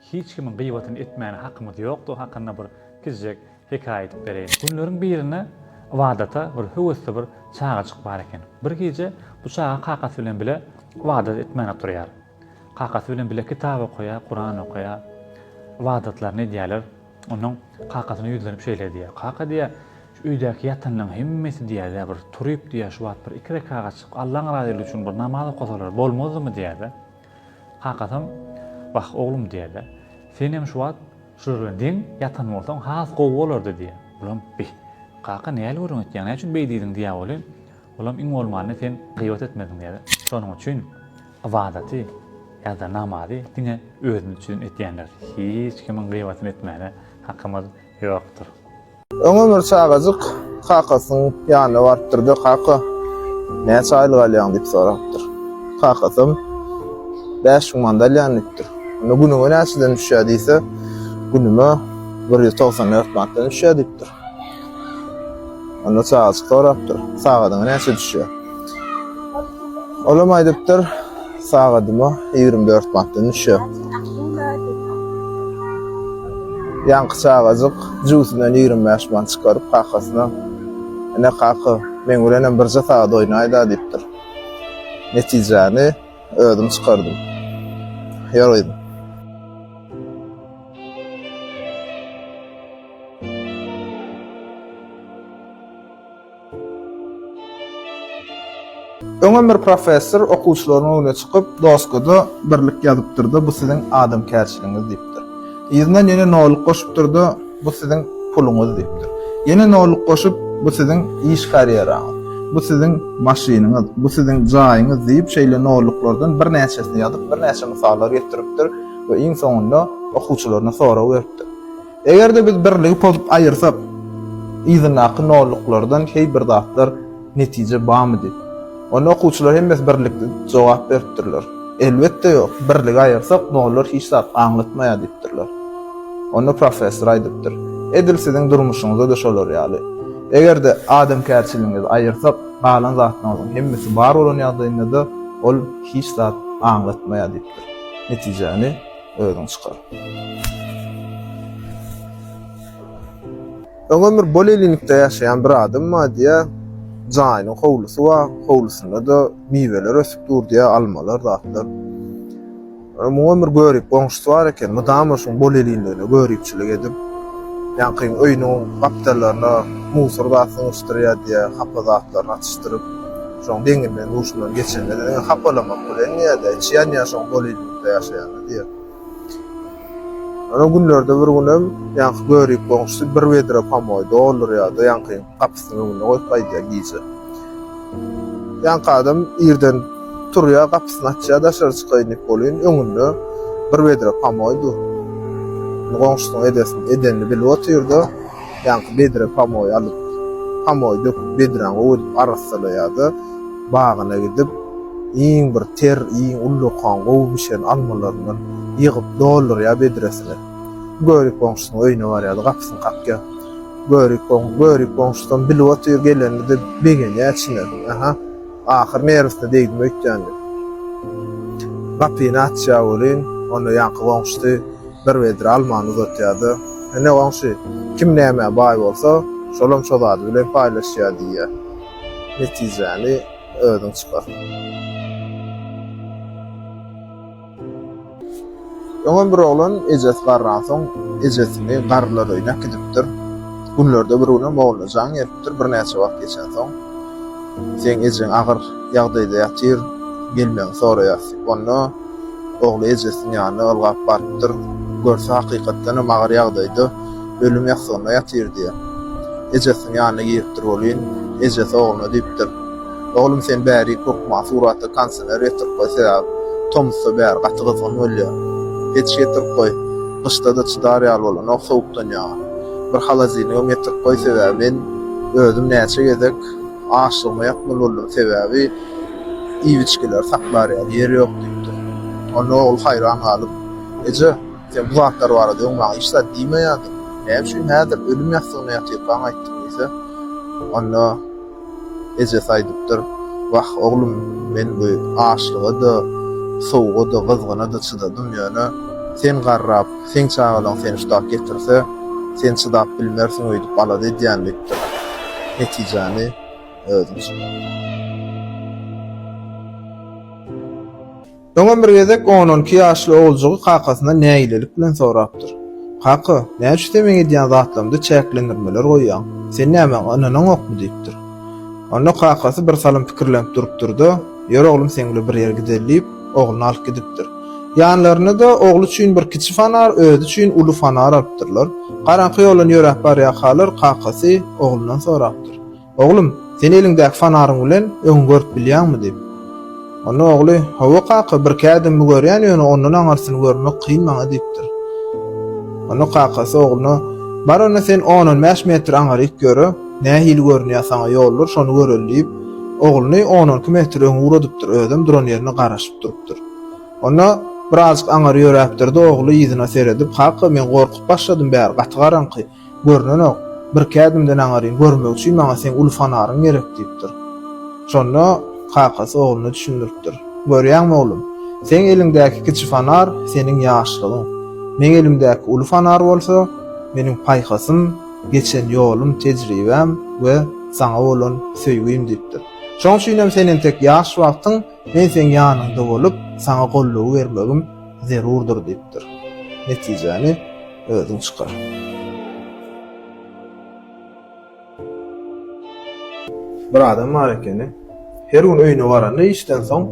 Hiç kimiň gyýbatyny etmäne hakymyz ýokdugy hakynda bir kiçijek hekaýa aýdyp bereýin. Günleriň birinde ybadata bir höwesli bir çagajyk bar eken. Bir gije bu çaga kakasy bilen bile ybadat etmän oturýar. Kakasy bilen bile kitap okaýar, Kuran okaýar. Ybadatlaryny edýärler. Onnoň kakasyna ýüzlenip şeýle diýýär, Kaka diýýär, şu öýdäki ýatanlaryň hemmesi diýýär-de bir turyp diýýär, şu wagt bir iki rekagatjyk Allaň razylygy üçin bir namaz okasalar bolmazdymy diýýär-de. Kakasam, Wah, oglum, diýer-de, senem şu wagt şular bilen deň ýatan bolsaň, has gowy bolardy, diýer. Olam, Bi, kaka, nähili gürrüň etýäň, näçün beý diýdiň, diýýär welin, olam, Iň bolmanda sen gyýbat etmediň, diýýär. Şonuň üçin ybadaty ýa-da namazy diňe özümiz üçin edýändir. Hiç kimiň gyýbatyny etmäne hakymyz ýokdur. Öňem bir çagajyk kakasynyň ýanyna barypdyr-da, Kaka, näçe aýlyk alýaň? diýip sorapdyr. Kakasam, Bäş müň manda alýan diýipdir. Onda günüňe näçeden düşýär diýse, Günüme bir ýüz togsan dört manatdan düşýär diýipdir. Onda çagajyk sorapdyr, Sagadyňa näçe düşýär? Olam aýdypdyr, Sagadyma ýigrimi dört manatdan düşýär. Ýaňky çagajyk jübüsinden ýigrimi bäş manat çykaryp, kakasyna, Ine, kaka, meň bilenem birje sagat oýnaý-da diýipdir. Netijäni özüm çykardym. Ýör gyzym. Öňem bir professor okuwçylarynyň öňüne çykyp, doskada birlik ýazypdyr-da, bu siziň adamkärçiligiňiz diýipdir. Yzyndan ýene nolluk goşupdyr-da, bu siziň puluňyz diýipdir. Ýene nolluk goşup, bu siziň iş karýeraňyz, bu siziň maşynyňyz, bu siziň jaýyňyz diýip, şeýle nolluklardan birnäçesini ýazyp, birnäçe mysallar getiripdir we iň soňunda okuwçylaryna sorag beripdir. Eger-de biz birligi pozup aýyrsak, yzyndaky nolluklardan heý bir zatlar netije barmydy? Onda okuwçylar hemmesi birlikde jogap beripdirler. Elbetde ýok, birligi aýyrsak, nollar hiç zat aňlatmaýar diýipdirler. Onda professor aýdypdyr, Edil siziň durmuşyňyza-da şolar ýaly. Eger-de adamkärçiligiňizi aýyrsak, galan zatlaryňyzyň hemmesi bar bolan ýagdaýynda-da ol hiç zat aňlatmaýar diýipdir. Netijäni. Özüň çykar. Öňem bir bolelinikde ýaşaýan bir adam bar diýýär. Jaýynyň howlusy bar. Howlusynda-da miweler ösüp dur diýýär, almalar, zatlar. Ýa muňam bir görip goňşusy bar eken. Mydama şuň bolelinligine göripçilik edip, ýaňkyň öýüniň gapdallaryna musor zat syňyşdyrýar diýýär, hapa zatlaryny atyşdyryp. Şoň deňi bilen duşundan geçende-de diňe hapalamak bilen ýa-da içýän ýaşyň bolidlikda ýaşaýanda diýer. Ýöne günlerde bir günem ýaňky görik goňşusy bir wedre pomoý doldurýar-da ýaňkyň gapysynyň öňünde goýup gaýdýar gije. Ýaňky adam irden turýar gapysyny açýar daşary çykaýyn diýip welin öňünde bir wedre pomoý dur. Goňşusynyň edesini edenini bilip otyr-da. Ýaňky bedre pamoý alyp, pamoý döküp bedräň gowy edip arassalaýarda, bagyna gidip, iň bir ter, iň ullakan, gowy bişen almalaryndan ýygyp doldurýar bedresine. Börik goňşusynyň öýüne barýarda gapysyny kakýar. Börik goňşy, börik goňşusam bilip otyr, gelenine-de begenýär içine. Aha, ahyr nerwisine degdim öýtýän diýip. Gapyny açýar welin, onda ýaňky goňşusy. bir wedre almany uzatýar-da, Ine, goňşy, kim nämä baý bolsa, şolam şo zady bilen paýlaşýar diýýär. Netijäni özüň çykar. Öňem bir oglan ejesi garransoň, ejesini garrylar öýüne äkidipdir. Günlerde bir günem ogluna jaň gelipdir, birnäçe wagt geçensoň, Seň ejeň agyr ýagdaýda ýatyr, gelmegiňi soraýar. Onda. Ogly ejesiniň ýanyna ylgap barypdyr. Görse, hakykatdanam agyr ýagdaýda, ölüm ýassygynda ýatyrdy. Ejesiniň ýanyna giripdir welin, ejesi ogluna diýipdir, Oglum, sen bärik hökman surata konsener getirip goý, sebäp tomusda bäri gaty gyzgyn bolýar. Peç getirip goý, gyşda-da çydar ýaly bolanok, sowukdan ýaňa. Bir holodilnigem getirip goý, sebäbi men özüm näçe gezek açlygyma ýatmaly boldum, sebäbi, Iwiçgeleri saklar ýaly ýer ýok diýipdir. Onda ogul haýran galyp, Eje, sen bu zatlar barada öň maňa hiç zat diýmeýärdiň. Näme üçin häzir ölüm ýassygynda ýatyrkaň aýtdyň diýse, onda ejesi aýdypdyr, Wah, oglum, men bu açlyga-da, sowuga-da, gyzgyna-da çydadym, ýöne sen garrap, seň çagalaň seni şu dak getirse, sen çydap bilmersiň öýdüp alada edýän diýipdir. Netijäni. Öňem bir gezek on on iki ýaşly oguljygy kakasyndan nägilelik bilen sorapdyr. Kaka, näçe tebiň edýän zatlarymda çäklendirmeler goýýaň? Sen nä maňa ynanaňokmy? diýipdir. Onda kakasy bir salym pikirlenip durupdyr-da, Ýör oglum seň bilen bir ýere gideli diýip, ogluny alyp gidipdir. Ýanlaryna-da ogly üçin bir kiçi fanar, özi üçin uly fanar alypdyrlar. Garaňky ýoldan ýöräp barýarkalar kakasy oglundan sorapdyr. Oglum, sen eliňdäki fonaryň bilen öňi görüp bilýäňmi? diýip. Onda ogly, Hawa, kaka, birki ädimimi görýän, ýöne ondan aňyrsyny görmek kyn maňa diýipdir. Onda kakasy ogluna, Bar onda sen on-on bäş metr aňryk ýöre, nähili görünýär saňa ýollar, şony göreli diýip, ogluny on-onki metr öňe ugradypdyr, özem duran ýerinde garaşyp durupdyr. Onda birazjyk aňyr ýöräpdir-de, ogly yzyna seredip, Kaka, men gorkup başladym bäri, gaty garaňky. Görnenok. Birki ädimden aňaryn, görmek üçin maňa seň uly fonaryň gerek, diýipdir. Şonda kakasy ogluna düşündiripdir. Görýäňmi, oglum? Seň eliňdäki kiçi fonar, seniň ýaşlygyň. Meň elimdäki uly fonar bolsa, meniň paýhasym, geçen ýolum, tejribäm we saňa bolan söýgim, diýipdir. Şoň üçinem sen entek ýaş wagtyň men seň ýanyňda bolup, saňa gollugy bermegim zerurdyr, diýipdir. Netijäni. Özüň çykar. Bir adam bar ekeni. Her gün öýüne baranda işden soň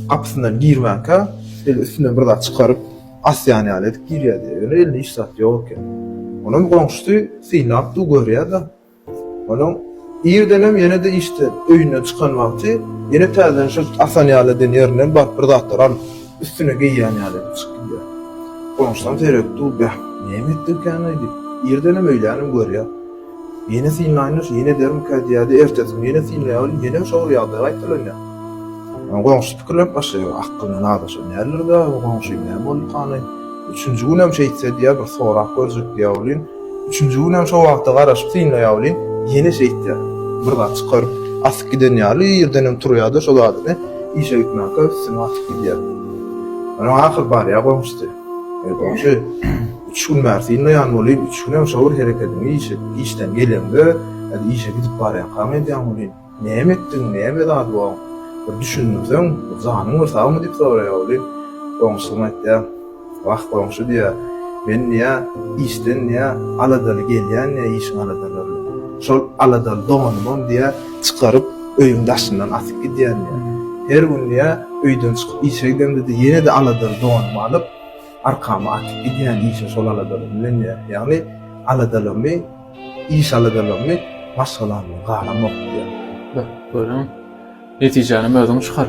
gapysyndan girmänkä şeýle üstünden bir zat çykaryp asýan ýaly edip girýärdi. Ýöne elinde hiç zat ýok eken. Onam goňşusy synlap dur görýär-de. Onuň irdenem ýene-de işden, öýünden çykan wagty ýene täzeden şol asan ýaly eden ýerinden baryp bir zatlar alyp, üstüne geýýän ýaly edip çykyp gidýär. Goňşularym seredip dur, Bäh, näme etdigikäni-aý diýip, irdenem öýlänem görýär. Ýene synlaýyn-da, şu ýene edermikä diýýär-de, ertesi gün ýene synlaýar welin, ýene şo bir ýagdaý gaýtalanýar. Onuň goňşusy pikirlenip başlaýar, Akgynly nazaşa nälerdi-ä bu goňşy, näme boldukanaý? Üçünji günem şeýtse diýýär, bir sorap görjek diýýär welin, Üçünji günem şo wagta garaşyp synlaýawli, ýene şeýtýä. Bir zat çykar, asyp giden ýaly ýerdenem turýa-da şo zadyny işe gitmänkä üstüne asyp gidýä. Onuň ahyry barýa goňşusy. Eý, goňşy, üç gün bäri synlaýan welin, üç günem şo bir herekediňi işe, işden geleňde ýa-da işe gidip barýankaň edýäň welin. Näme etdiň, näme zat bu? Bir düşündirseň, bir janyň bir sagmy? diýip soraýar weli. Goňşusam aýtýar. Wah, goňşy, diýýär, men, diýýär, işden, diýýär, aladaly gelýän, diýýär, işiň aladalaryna. Şol aladaly donumam, diýýär, çykaryp, öýüň daşyndan asyp gidýän, diýýär. Her gün, diýýär, öýden çykyp işe gidemde-de ýene-de aladaly donumy alyp, arkama atyp gidýän işe şol aladalymy bilen, diýýär. Ýagny, aladalymy. Iş aladalaryny başgalaryndan garamok diýýär. Görüň, netijänem özüň çykar.